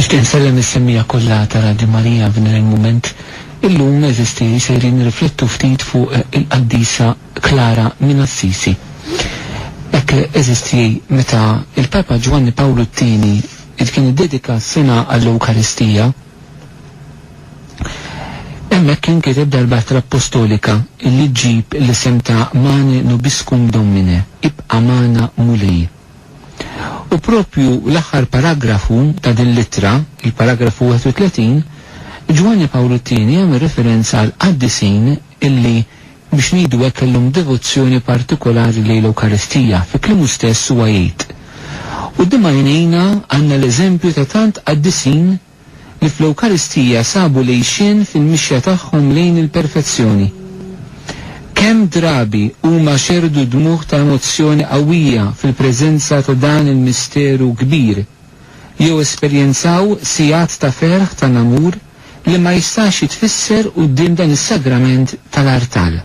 Nixtieq insellem is-semmiegħa kollha ta' Radju Marija f'din il-mument. Illum, eżisti, sejrin nirriflettu ftit fuq il-Qaddisa Klara minn Assisi. Hekk eżisti meta l-Papa Ġwanni Pawlu t-Tieni id kien iddedika s-sena għall-Ewkaristija. Hemmhekk kien kiteb darb'altra appostolika li ġġib l-isem ta' Mane nobiscum Domine, Ibqa' magħna Mulej. U proprju l-aħħar paragrafu ta' din l-ittra, il-paragrafu 31, Ġwanni Pawlu t-Tieni jagħmel referenza għall-qaddisin illi, biex ngħidu hekk, kellhom devozzjoni partikolari lejn l-Ewkaristija. Fi kliemu stess huwa jgħid, Quddiem għajnejna għandna l-eżempju ta' tant qaddisin, li fl-Ewkaristija sabu l-għixien fil-mixja tagħhom lejn il-perfezzjoni. Kemm drabi huma xerrdu dmugħ ta' emozzjoni qawwija fil-preżenza ta' dan il-misteru kbir, jew esperjenzaw sigħat ta' ferħ ta' namur li ma jistax jitfisser quddiem dan is-sagrament tal-artal.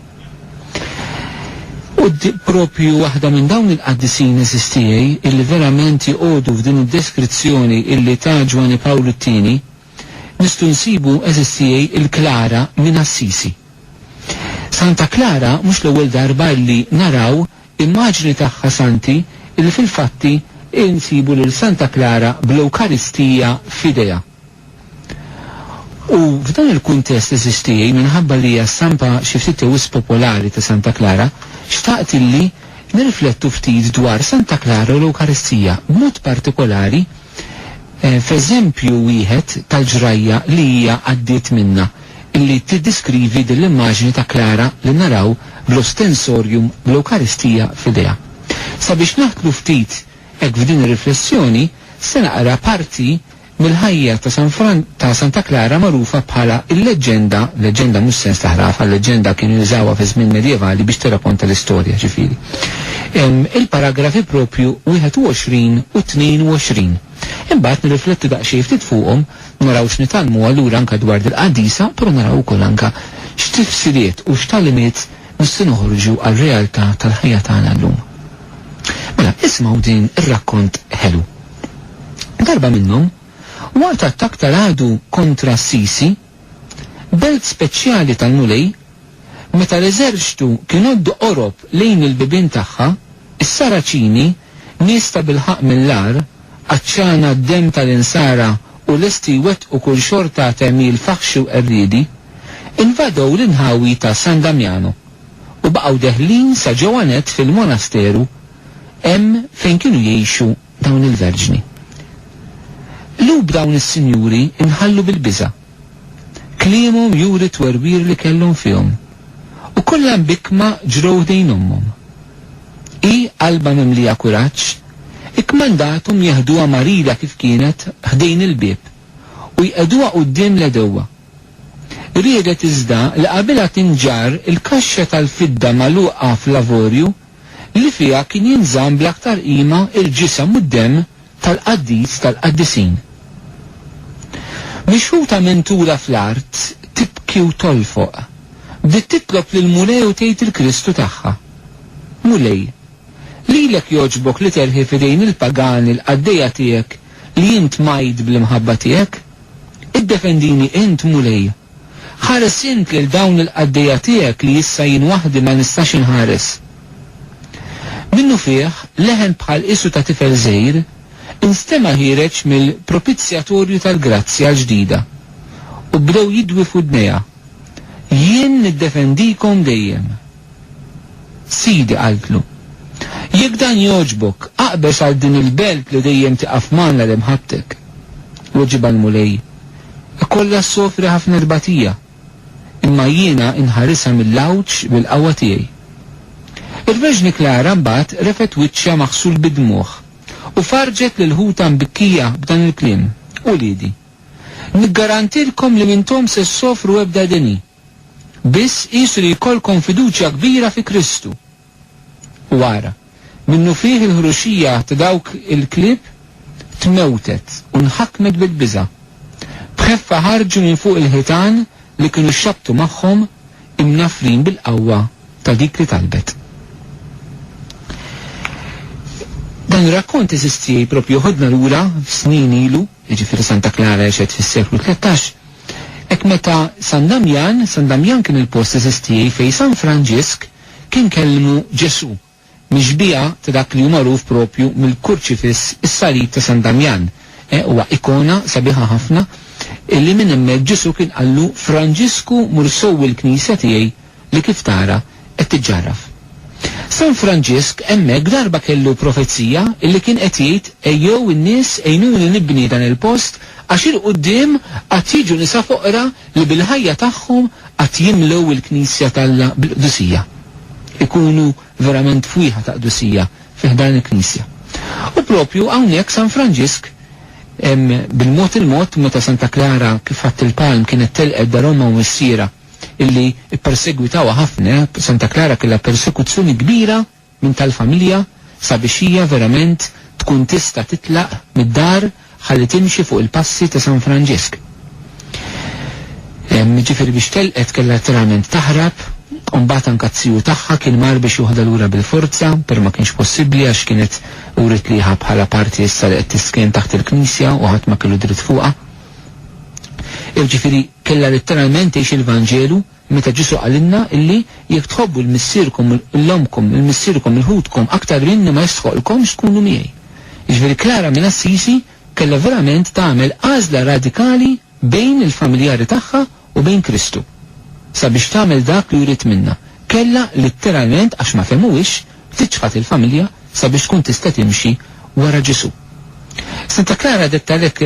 U propju waħda minn dawn il-qaddisin għeżież tiegħi illi verament joqogħdu f'din id-deskrizzjoni illi ta Ġwanni Pawlu t-Tieni, nistgħu nsibu għeżież tiegħi l-Klara minn Assisi. Santa Klara mhux l-ewwel darba illi naraw immaġni tagħha santi illi fil-fatti insibu lil Santa Klara bl-Ewkaristija f'idejha. U f'dan il-kuntest għeżież tiegħi, minħabba li hija stampa xi ftit jew wisq popolari ta' Santa Klara, xtaqt illi nirriflettu ftit dwar Santa Klara u l-Ewkaristija, b'mod partikolari f'eżempju wieħed tal-ġrajja li hija għaddiet minnha, illi tiddiskrivi din l-immaġni ta' Klara li naraw bl-Ostensorium bl-Ewkaristija f'idejha. Sabiex naħdlu ftit hekk f'din ir-riflessjoni, se naqra parti mill-ħajja ta' San Fran ta' Santa Klara magħrufa bħala l-leġġenda, leġġenda mhux sens ta' ħrafa, leġġenda kienu jużawha fiż-żmien medjevali biex tirrakonta l-istorja, ġifieri. Hemm il-paragrafi proprju 21 u 22. Imbagħad nirriflettu daqsxejn ftit fuqhom, naraw x'nitgħallmu allura anke dwar dil-qadisa, però naraw ukoll anke x'tifsiriet u x'tagħlimiet nistgħu noħorġu għar-realtà tal-ħajja tagħna llum. Mela, ismgħu din ir-rakkont ħelu. Darba minnhom, waqt attakk ta' ragħdu kontra Assisi, belt speċjali tal-Mulej, meta l-eżerċtu kien għoddu qorob lejn il-bibien tagħha, is-Saraċini, nies tabilħaqq mill-agħar, għatxana d-demm tal-insara u lesti jwettqu kull xorta ta' għemil faħxi u qerriedi, invadew l-inħawi ta' San Damjano u baqgħu deħlin sa ġewwa nett fil-monasteru hemm fejn kienu jgħixu dawn il-verġni. Lhub dawn is-sinjuri nħallu bil-biża'. Kliemhom juri t-twerwir li kellhom fihom. U kollha mbikkma ġrew ħdejn ommhom. Hi, qalbha mimlija kuraġġ, ikkmandathom jeħduha marida kif kienet ħdejn il-bieb u jqegħduha quddiem l-għedewwa. Riedet iżda li qabilha tinġarr il-kaxxa tal-fidda magħluqa fl-avorju li fiha kien jinżamm bl-aktar qima l-ġisem u d-demm tal-Qaddis tal-Qaddisin. Mixħuta minn Tura fl-art, tibki u tolfoq, bdiet titlob lill-Mulej u tgħid il-Kristu tagħha, Mulej, lilek jogħġbok li terħi f'idejn il-pagani l-qaddejja tiegħek li int mgħid bl-imħabba tiegħek? Iddefendini int, Mulej! Ħares int lil dawn il-qaddejja tiegħek li issa jien waħdi ma nistax inħares. Minnufih, leħen bħal qisu ta' tifel żgħir instema' ħiereġ mill-propizzjatorju tal-grazzja l-ġdida, u bdew jidwi f'widnejha, Jien niddefendikom dejjem. Sidi, qaltlu, jekk dan jogħġbok, aqbeż għal din il-belt li dejjem tieqaf magħna li mħabbtek. Weġibha l-Mulej, Ikollha ssofri ħafna tbatija, imma jiena inħarisha mill-għawġ bil-qawwa tiegħi. Il-Verġni Klara mbagħad refgħet wiċċha maħsul bid-dmugħ u farrġet lil ħutha mbikkija b'dan il-kliem, Uliedi, niggarantilkom li m'intom se ssofru ebda deni. Biss qiesu li jkollkom fiduċja kbira fi Kristu. U ara, minnufih il-ħruxija ta' dawk il-klieb tmewtet u nħakmet bil-biża'. B'ħeffa ħarġu minn fuq il-ħitan li kienu xxabbtu magħhom, imnaffrin bil-qawwa ta' dik li talbet. Dan ir-rakkont, għeżież tiegħi, proprju ħudna lura f'snin ilu, jiġifieri Santa Klara għexet fis-seklu tlettax, Hekk meta San Damjan, San Damjan kien il-post eżistiej fejn San Franġisk kien kellmu Ġesù, mixbiha ta' dak li hu magħruf propju mill-kurċifiss is-salib ta' San Damjan, eh, huwa ikona sabiħa ħafna, illi minn hemmhekk Ġesù kien qallu Franġisku mur sowwi l-knisja tiegħi, li kif tara qed tiġġarraf. San Franġisk hemmhekk darba kellu profezija illi kien qed jgħid ejjew in-nies għinuni nibni dan il-post għax il-quddiem għad jiġu nisa foqra li bil-ħajja tagħhom għad jimlew il-knisja t'Alla bil-qdusija. Ikunu verament fwieħa ta' qdusija fi ħdan il-knisja. U proprju hawnhekk San Franġisk bil-mod il-mod meta Santa Klara kif ħadt il-palm kienet telqet daromha u missierha, illi ppersegwitawha ħafna, Santa Clara kellha persekuzzjoni kbira minn tal-familja sabiex hija verament tkun tista' titlaq mid-dar ħalli timxi fuq il-passi ta' San Franġisk. Jiġifieri biex telqet kellha letteralment taħrab u mbagħad anke t-tiju tagħha kien mar biex joħodha lura bil-forza, però ma kienx possibbli għax kienet wriet liha bħala parti issa li qed tisken taħt il-knisja u ħadd ma kellu dritt fuqha. Jiġifieri kellha letteralment tgħix il-Vanġelu meta Ġesù qalilna illi jekk tħobbu 'l missierkom u 'l ommkom, 'l missierkom u 'l ħutkom aktar minni ma jistħoqqlkomx tkunu miegħi. Jiġifieri Klara minn Assisi kellha verament tagħmel għażla radikali bejn il-familjari tagħha u bejn Kristu, sabiex tagħmel dak li jrid minnha, kellha litteralment, għax ma fehmuhiex, tiċħad il-familja sabiex tkun tista' timxi wara Ġesù. Santa Klara dettalek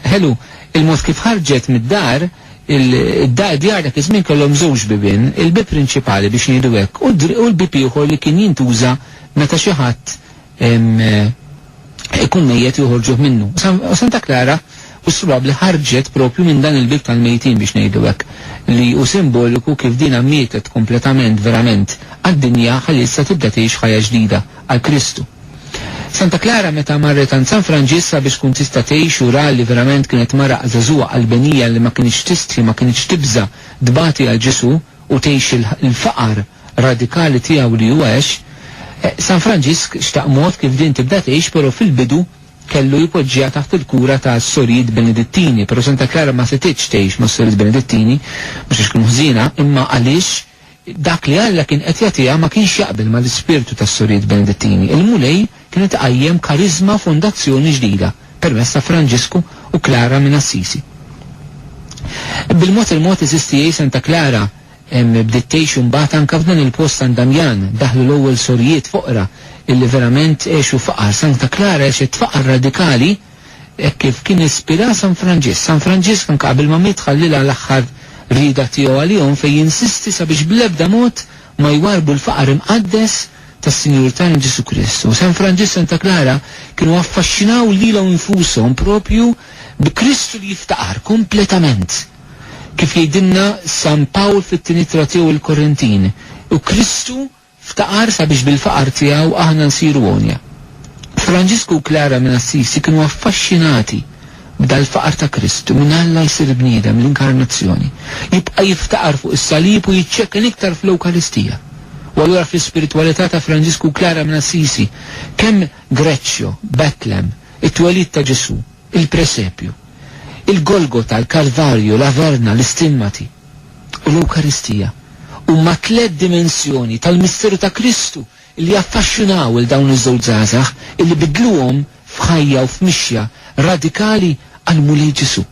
ħelu il-mod kif ħarġet mid-dar, id-djar dak iż-żmien kellhom żewġ bibien, il-bieb prinċipali biex ngħidu hekk u l-bieb ieħor li kien jintuża meta xi ħadd ikun mejjet u joħorġuh minnu. U Santa Klara u s-Swabbli ħarġet proprju minn dan il-bieb tal-mejtin biex ngħidu hekk, li hu simboliku kif dinha mietet kompletament verament għad-dinja ħalli issa tibda tgħix ħajja ġdida għal Kristu. Santa Klara meta marret għand San Franġisk sabiex tkun tista' tgħix u ra li verament kienet mara għażagħżugħa qalbenija li ma kinitx tistħi ma kinitx tibża' tbati għal Ġesù, u tgħix il-faqar radikali tiegħu li huwa għex, San Franġisk xtaq mod kif din tibda tgħix però fil-bidu kellu jpoġġiha taħt il-kura ta' Sorijiet Benedittini. Però Santa Klara ma setgħetx tgħix ma' Sorijiet Benedittini, mhux għax kienu ħżiena, imma għaliex dak li Alla kien qed jagħtiha ma kienx jaqbel mal-ispirtu tas-Sorijiet Benedittini. Il-Mulej, kienet iqajjem kariżma fondazzjoni ġdida permezz ta' Franġisku u Klara minn Assisi. Bil-mod il-mod is-STA Santa Klara bdiet tgħix imbagħad anke f'dan il-post San Damjan, daħlu l-ewwel sorijiet foqra illi verament għexu faqar. Santa Klara għexet faqar radikali hekk kif kien ispira San Franġisk. San Franġisk anke qabel ma miet ħallilha l-aħħar rieda tiegħu għalihom fejn jinsisti sabiex bl-ebda mod ma jwarrbu l-faqar imqaddes tas-Sinjur tagħna Ġesù Kristu. San Franġisk, Santa Klara kienu affaxxinaw lilhom infushom proprju bi Kristu li jiftaqar kompletament. Kif jgħidilna San Pawl fit-tieni ittra tiegħu lill-Korintin, u Kristu ftaqar sabiex bil-faqar tiegħu aħna nsiru għonja. Franġisku u Klara minn Assisi kienu affaxxinati B'dal-faqar ta' Krist, minn Alla jsir bniedem, l-Inkarnazzjoni, jibqa' jiftaqar fuq is-salib u jiċċekken iktar fl-Ewkaristija. U allura fl-ispiritwalità ta' Franġisku Klara minn Assisi, kemm Greccio, Betlem, it-twelid ta' Ġesù, il-Presepju, il-Golgota, l-Kalvarju, l-Averna, l-Istimmati, u l-Ewkaristija, huma tliet dimensjoni tal-misteru ta' Kristu li jaffaxxinaw 'il dawn iż-żewġ żgħażagħ illi biddluhom f'ħajja u f'mixja radikali għall-Mulej Ġesù.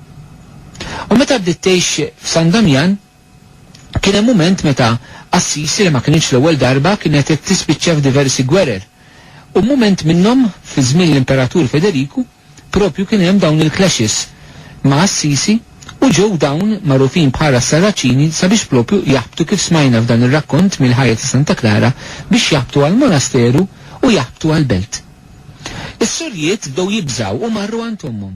U meta bdiet tgħix f'San Damjan, kien hemm mument meta Assisi li ma kinitx l-ewwel darba kienet qed tispiċċa f'diversi gwerer, u mument minnhom fi żmien l-Imperatur Federiku, Propju kien hemm dawn il-clashes ma' Assisi u ġew dawn magħrufin bħala s-Sarraċini sabiex propju jaħbtu kif smajna f'dan ir-rakkont mill-ħajja ta' Santa Klara biex jaħbtu għall-monasteru u jaħbtu għall-belt. Is-sorijiet bdew jibżgħu u marru għand ommhom.